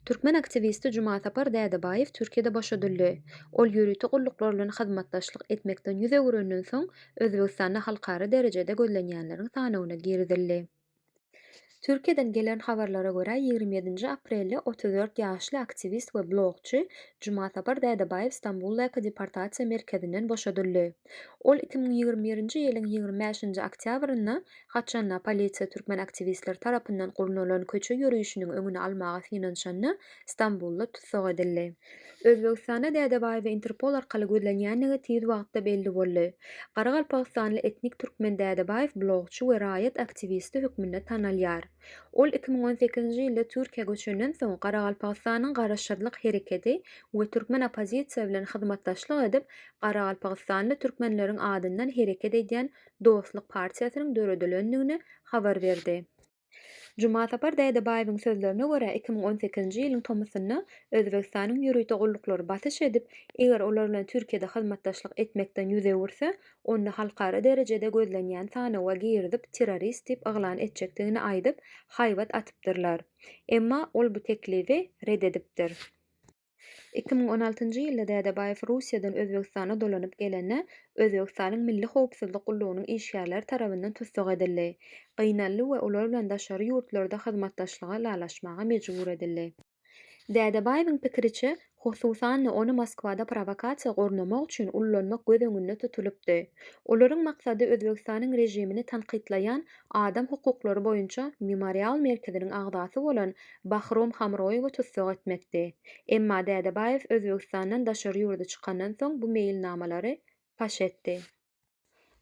Türkmen aktiwisti Jumasapar Dädebaýew Türkiýede boşadyldy. Ol ýörite gulluklar bilen hyzmatdaşlyk etmekden ýüz öwürenden soň, Özbegistanda halkara derejede gözlenýänleriň sanawyna girizildi. Türkiýeden gelen habarlara görä, ýigrimi ýedinji aprelde otuz dört ýaşly aktiwist we blogçy Jumasapar Dädebaýew Stambuldaky deportasiýa merkezinden boşadyldy. Ol iki müň ýigrimi birinji ýylyň ýigrimi bäşinji oktýabrynda Haçanda polisiýa türkmen aktiwistleri tarapyndan gurnalan köçe ýörişiniň öňüni almaga synanyşanda Stambulda tussag edildi. Özbegistanda Dädebaýewe Interpol arkaly gözlenýändigi tiz wagtda belli boldy. Garagalpagystanly etnik türkmen Dädebaýew blogçy we raýat aktiwisti hökmünde tanalýar. Ol iki müň on sekizinji ýylda Türkiýä göçenden soň Garagalpagystanyň Garaşsyzlyk hereketi we türkmen oppozisiýa bilen hyzmatdaşlyk edip, garagalpagystanly türkmenleriň adyndan hereket edýän Dostluk partiýasynyň döredilendigini habar berdi. Jumasapar Dädebaýewiň sözlerine görä, iki müň on sekizinji ýylyň tomusynda Özbegistanyň ýörite gulluklary basyş edip, eger olar bilen Türkiýede hyzmatdaşlyk etmekden ýüz öwürse, ony halkara derejede gözlenýän sanawa girizip terrorist diýip yglan etjekdigini aýdyp haýbat atypdyrlar. Emma ol bu teklibi red edipdir. Iki müň on altynjy ýylda Dädebaýew Russiýadan Özbegistana dolanyp gelende Özbegistanyň Milli howpsuzlyk gullugynyň işgärleri tarabyndan tussag edildi, gynaldy we olar bilen daşary ýurtlarda hyzmatdaşlyga ylalaşmaga mejbur edildi. Dädebaýewiň pikiriçe, hususan-da, ony Moskwada prowokasiýa gurnamak üçin ullanmak göz öňünde tutulypdy. Olaryň maksady Özbegistanyň režimini tankytlaýan adam hukuklary boýunça Memorial merkeziniň agzasy bolan Bahrom Hamroýewi tussag etmekdi. Emma Dädebaýew Özbegistandan daşary ýurda çykandan soň bu meýilnamalary paş etdi.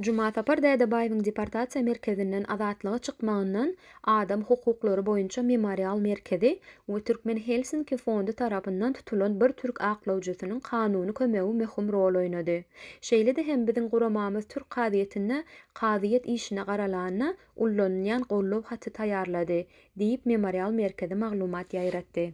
Jumasapar Dädebaýewiň deportasiýa merkezinden azatlyga çykmagyndan Adam hukuklary boýunça Memorial merkezi we Türkmen Helsinki fondy tarapyndan tutulan bir türk aklawjysynyň kanuny kömegi möhüm rol oýnady. Şeýle-de hem biziň guramamyz türk kazyýetinde kazyýet işine garalanda ullanylýan gollow haty taýýarlady, diýip Memorial merkezi maglumat ýaýratdy.